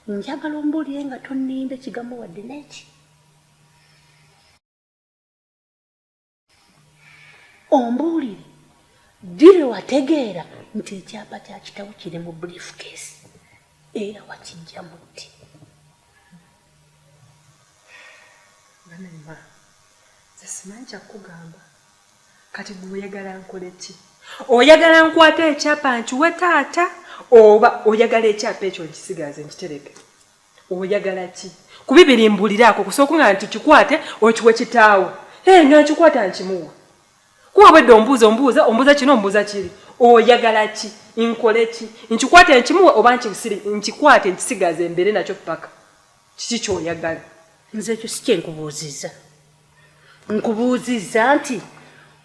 Njagala ombulire nga tonimba ekigambo wadde neki. Ombulire dire wategeera nti ekyapa kya kitawo kiri mu brief case era wakijja mutti. Banema, zesimanyi kyakugamba. Kati gwe oyagala nkole ki? Oyagala nkwata ekyapa nkiwe taata oba oyagala ekyapa ekyo nkisigaze nkitereke? Oyagala ki? Ku bibiri mbuliraako kusooka nga nti kikwate okiwe kitaawo. Hee nga nkikwata nkimuwa. Kuba obwedde ombuuza ombuuza ombuuza kino ombuuza kiri. Oyagala ki? Nkole ki? Nkikwate nkimuwe oba nkikwate nkisigaze mbeere nakyo ppaka? kiki kyoyagala nze ekyo si kyenkubuuzizza nkubuuzizza nti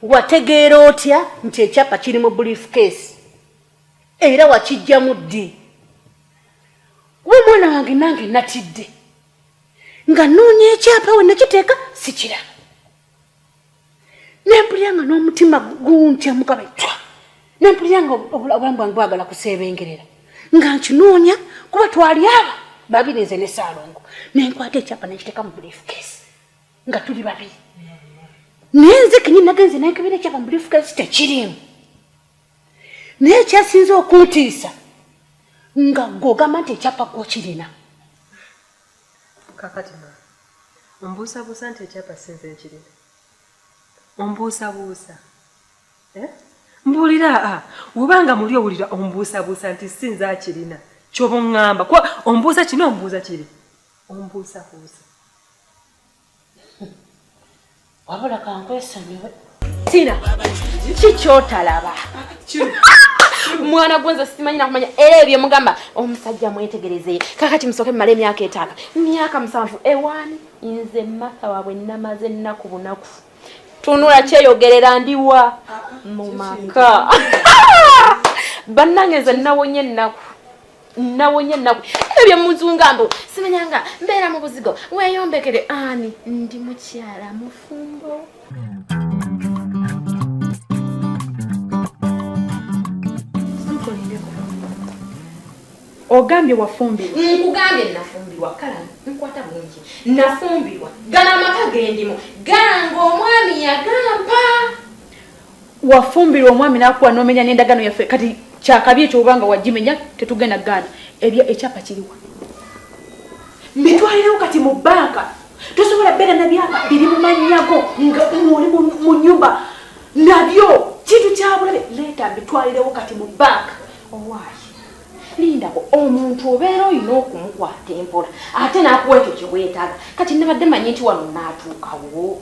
wategeera otya nti ekyapa kiri mu brief case era wakijjamu ddi kuba omwana wange nange natidde nga noonya ekyapa we nakiteeka sikiraba nempulira nga n'omutima guntya mukaba twa nempulira nga obulamu bwange bwagala kuseebengerera nga nkinoonya kuba twali aba babiri nze ne saalongo nenkwata ekyapa nekiteeka mu bulifukeesi nga tuli babiri naye nze kenye nagenze nenkebera ekyapa mu bulifukeesi tekiriimu naye ekyasinze okuntiisa nga gogamba nti ekyapa gwokirina Kakati maama, ombuusabuusa nti ekyapa si nze nkirina? Ombuusabuusa eh? Mbuulira a ah, oba nga muli owulira ombuusabuusa nti si nze akirina kyoba oŋŋamba kuba ombuusa kino ombuuza kiri ombuusabuusa wabula kankwesonyiwe tina kiki kyotalaba mwana gwenze simanyi nakumanya era ebyo mugamba omusajja mwetegerezeye kakati musooke mumala emyaka etaano myaka musanvu ewaani nze matha waabwe namaze ennaku bunaku tunula kyeyogerera ndiwa mu maka bannange nze nawonye ennaku nawonye naku ebyo muzunga mbu simanyanga mbeera mu buzigo weyombekere ani ndi mukyala mufumbo ogambye wafumbirwa nkugambye nafumbirwa kala nkwata bulungi nafumbirwa gana amaka gendimu ganga omwami yagampa wafumbirwa omwami nakuwa nomenya nendagano yaffe kati kyakabi ekyo obanga wagimenya tetugenda gaana ebyo ekyapa kiriwa mbitwalirewo kati mu banka tosobola beera na byapa biri mu manyago nga oli mu nyumba nabyo kintu kyabulabe leeta mbitwalirewo kati mu banka owaayi lindako omuntu obeera olina okumukwata empola ate nakuwa ekyo kyewetaaga kati nabadde manyi nti wano naatuukawo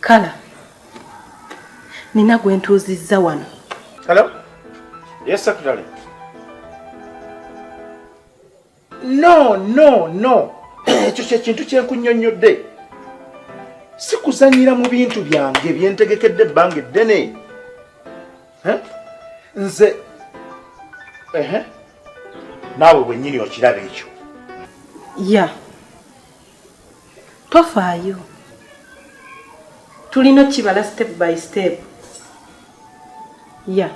kala nina gwe ntuuzizza wano hello yes secretary no no no ekyo kyekintu kyenkunyonnyodde sikuzanyira mu bintu byange byentegekedde ebbanga eddene nze naawe bwennyini okiraba ekyo ya yeah. tofaayo tulina okibala step by step ya yeah.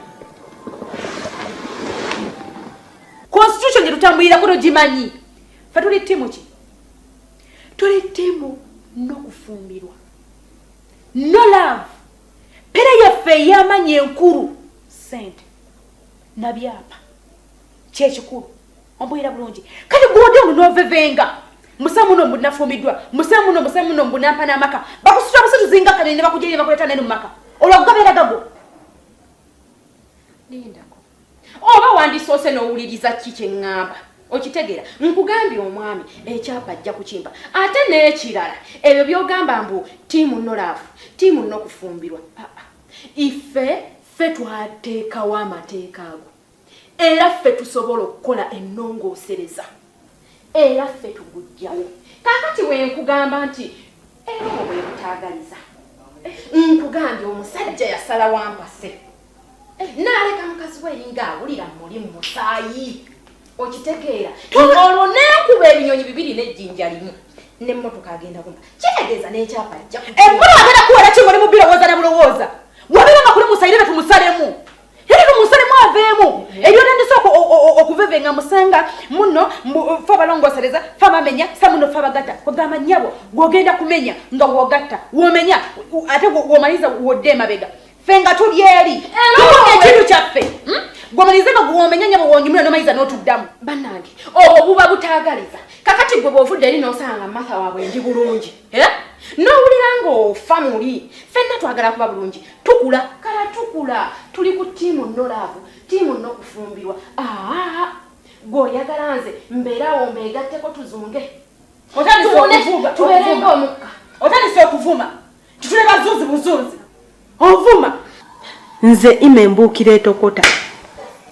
constitution gyetutambulirako togimanyi fe tuli ttiimu ki tuli ttiimu n'okufumbirwa no love pere yaffe ey'amanyi enkulu sente na byapa kyekikulu ombulira bulungi kati gwode ono novevenga musemuno mbunafumiddwa musemuno musemuno mbunampa n'amaka bakusitula busatu zinga kane ne bakujeri ne bakuleeta neno mu maka olwakugabeera gago lindako oba wandisoose n'owuliriza ki kye ŋŋamba okitegeera nkugambye omwami ekyapa ajja kukimpa ate n'ekirala ebyo by'ogamba mbu tiimu nolaavu tiimu nokufumbirwa ife ffe twateekawo amateeka ago era ffe tusobola okukola ennongoosereza era ffe tugujjawo kakati wenkugamba nti erobo bwebutaagaliza nkugambye omusajja yasala wampase naleka mukazi we eringa awulira muli mumusaayi okitegeera olwo nekuba ebinyonyi bibiri nejjinja limu nemotoka agenda kuma kitegeeza nekyapa jja emmotoka agenda kuwera ki mulimu birowooza ne bulowooza wabiranga kuli musayire betumusalemu era no musalemu aveemu ebyotandise okuvevenga musanga muno fe abalongosereza fe abamenya sa muno fe abagatta kwegamba nyabo gwogenda kumenya nga wogatta womenya ate womaliza wodde emabega fe nga tuli eri ekintu kyaffe hmm? gwomalize nga gwomenya nyabo wonyumira nomaliza notuddamu banange obwo buba butagaliza kakati gwe bwovudde eri nosanga matha wabwe ndi bulungi eh? n'owulira ng'ofa muli fenna twagala kuba bulungi tukula kala tukula tuli ku tiimu no laavu tiimu no kufumbirwa aa gwe oyagala nze mbeerawo mbeegatteko tuzunge tubeerenga omukka otandise okuvuma titule bazunzi buzunzi ovuma nze ima embuukira etokota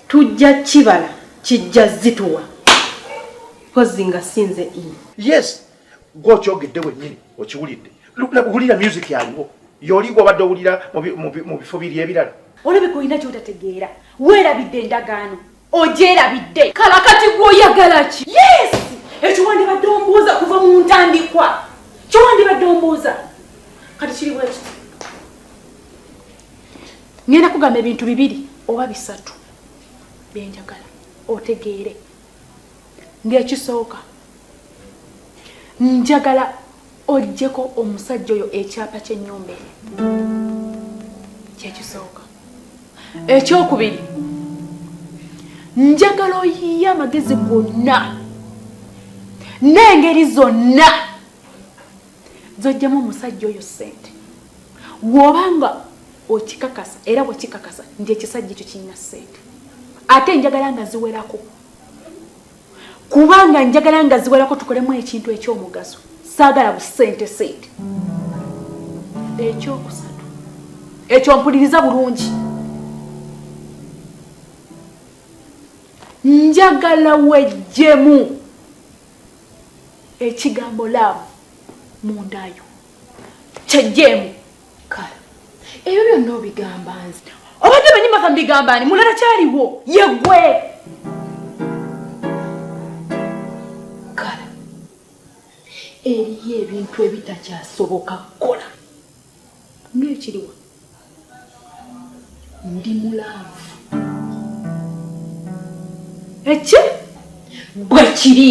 tujja kibala kijja zituwa kozi nga sinze ima yes gwe okyogedde wennyini okiwulidde wulira music yaliwo yoli gwobadde owulira mu bifo biri ebirala olabika olina kyotategeera weerabidde endagaano ogyerabidde kala kati gwoyagala ki yes ekyo wandibadde ombuuza kuva mu ntandikwa kyo wandibadde ombuuza kati kiri bweki ngenda kugamba ebintu bibiri oba bisatu byenjagala otegeere ng'ekisooka njagala ojjeko omusajja oyo ekyapa ky'ennyumba eri kyekisooka ekyokubiri njagala oyiye amagezi gonna n'engeri zonna zojjamu omusajja oyo ssente woba nga okikakasa era bwekikakasa nti ekisajja ekyo kirina ssente ate njagala nga ziwerako kubanga njagala nga ziwerako tukolemu ekintu ekyomugaso saagala busente sente ekyokusatu ekyo mpuliriza bulungi njagala wejjemu ekigambo laavu mundayo kyejjeemu kale ebyo byonna obigamba nze obadde manyi maka mbigamba ani mulala kyaliwo yegwe kale eriyo ebintu ebitakyasoboka kukola ngekiriwa ndi mulaavu eki bwe kiri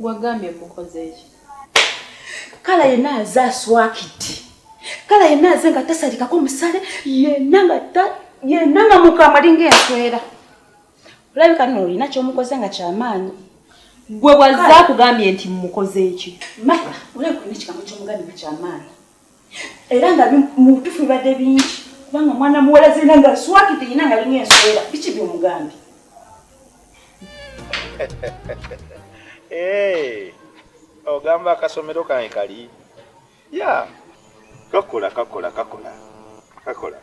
wagambye mukozeeki kala yenna aze aswakidde kala yenna aze nga tasalikako musale yenna nga yenna nga mukama linga enswera olabika no olina kyomukoze nga kyamaanyi gwe waze akugambye nti mukozeeki maya olabika olina ekigambo kyomugambye nga kyamaanyi era nga mubutufu bibadde bingi kubanga mwana muwala zirina nga swakite yina nga linya enswera biki byomugambye eh, ogamba akasomero kange kali ya kakola kakola kakola kakola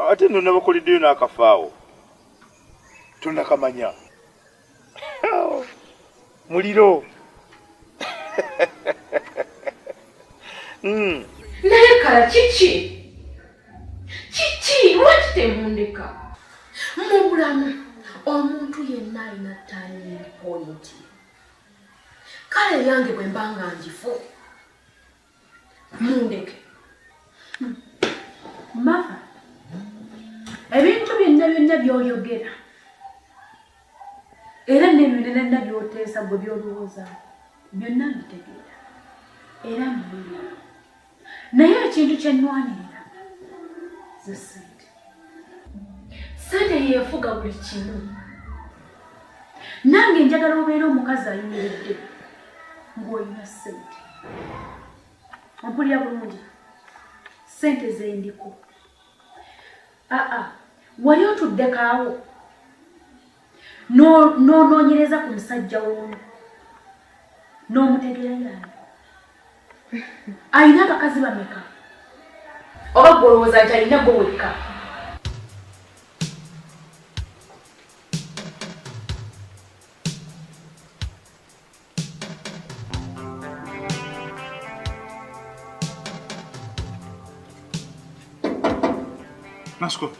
ate nonabakolideyo nakafaawo tonakamanya muliro hmm. naye kala kiki kiki lwaki temundeka mu bulamu omuntu yenna alina tanyini pointi kale yange bwe mba nga njifu Mundeke. Mama, ebintu byonna byonna byoyogera era n'ebyo nenanna byoteesa gwe byolowooza byonna mbitegeera era mbiina naye ekintu kye nnwanirira ze sente sente yefuga buli kimu nange njagala obeera omukazi ayimiridde ng'olina sente ompulira bulungi sente zendiko aa wali otuddekaawo n'onoonyereza ku musajja w'omu n'omutegeera yaani alina abakazi bameka oba gwolowooza nti alina gwe wekka Ascolta.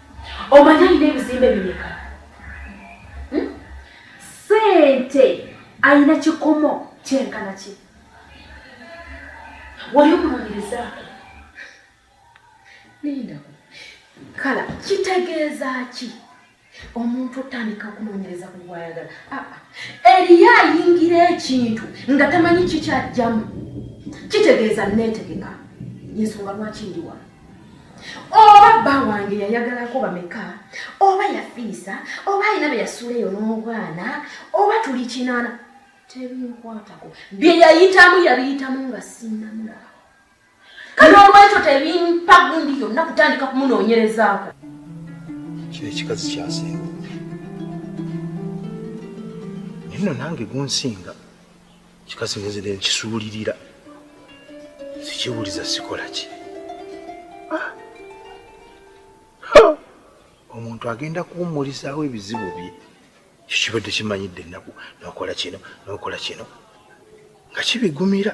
Omanyi alina ebizimbe bimeka? Hmm? Sente alina kikomo kyenkana ki? Wali omunoonyereza? Linda, kala kitegeeza ki? omuntu otandika okunoonyereza ku gwayagala ah, ah. eriyo ayingira ekintu nga tamanyi kikyajjamu kitegeeza neetegeka yensonga lwaki ndiwa oba bba wange yayagalako bameka oba yafiisa oba alina be yasuula eyo n'obwana oba tuli kinaana tebinkwatako bye yayitamu yabiyitamu nga sinnamulaba kale olwekyo tebimpa gundi yonna kutandika kumunoonyerezaako kino ekikazi kyasinga nino nange gunsinga kikazi ngenze ne nkisuulirira sikiwuliza sikola ki ah! omuntu agenda kuwummulizaawo ebizibu bye kyo kibadde kimanyidde ennaku nokola kino nokola kino nga kibigumira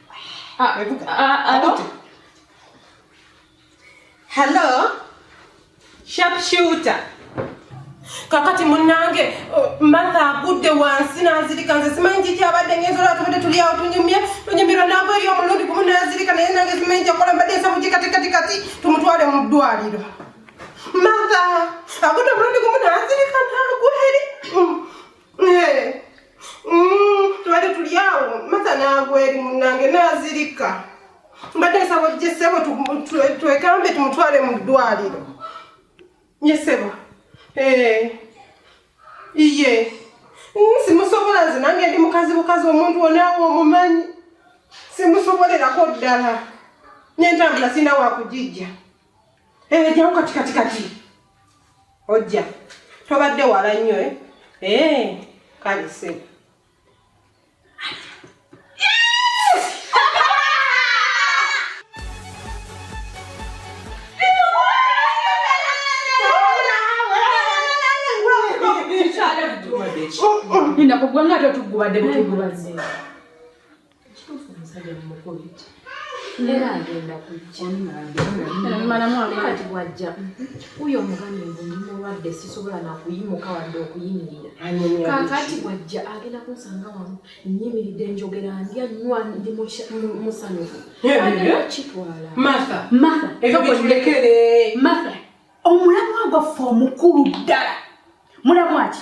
Ah, Ebuka. ah, ah, Abuti. Hello? Sharpshooter. kakati munange uh, martha agudde wansi nazirika nze simanyi kiki abadde ngenzola tubadde tuli awo tunyumye tunyumirwa naago eri omulundi gumu nazirika naye nange simanyi kyakola mbadde nsa mukikatikati tumutwale mu ddwaliro martha agudde omulundi gumu nazirika nagweri tubadde tuli awo mata nagweri munange nazirika mbadde nsaba ojje ssebo twekambe tumutwale mu ddwaliro nye ssebo iye simusobola nze nange ndi mukazi bukazi omuntu onaawe omumanyi simusobolerako ddala nentambula sirina wakugijja Eh, jawo kati kati kati ojja tobadde wala nnyo e eh? eh, kale sebo Nina kugwa nga tatuguba de butuguba zee. Ekituufu omusajja mumukubi era agenda kujjaati bwajja uyo omugambye ngu ndi mulwadde sisobola nakuyimuka wadde okuyimirira kakati bwajja agenda kunsanga wamu nyimiridde njogera ndya nywa ndi musanyufu kitwala omulamwa gwaffe omukulu ddala mulamwaki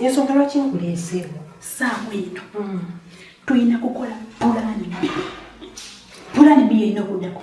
ensonga lwaki nkuleeseewo saawa eno hmm. tulina kukola pulaani pulaani biyerina okuddako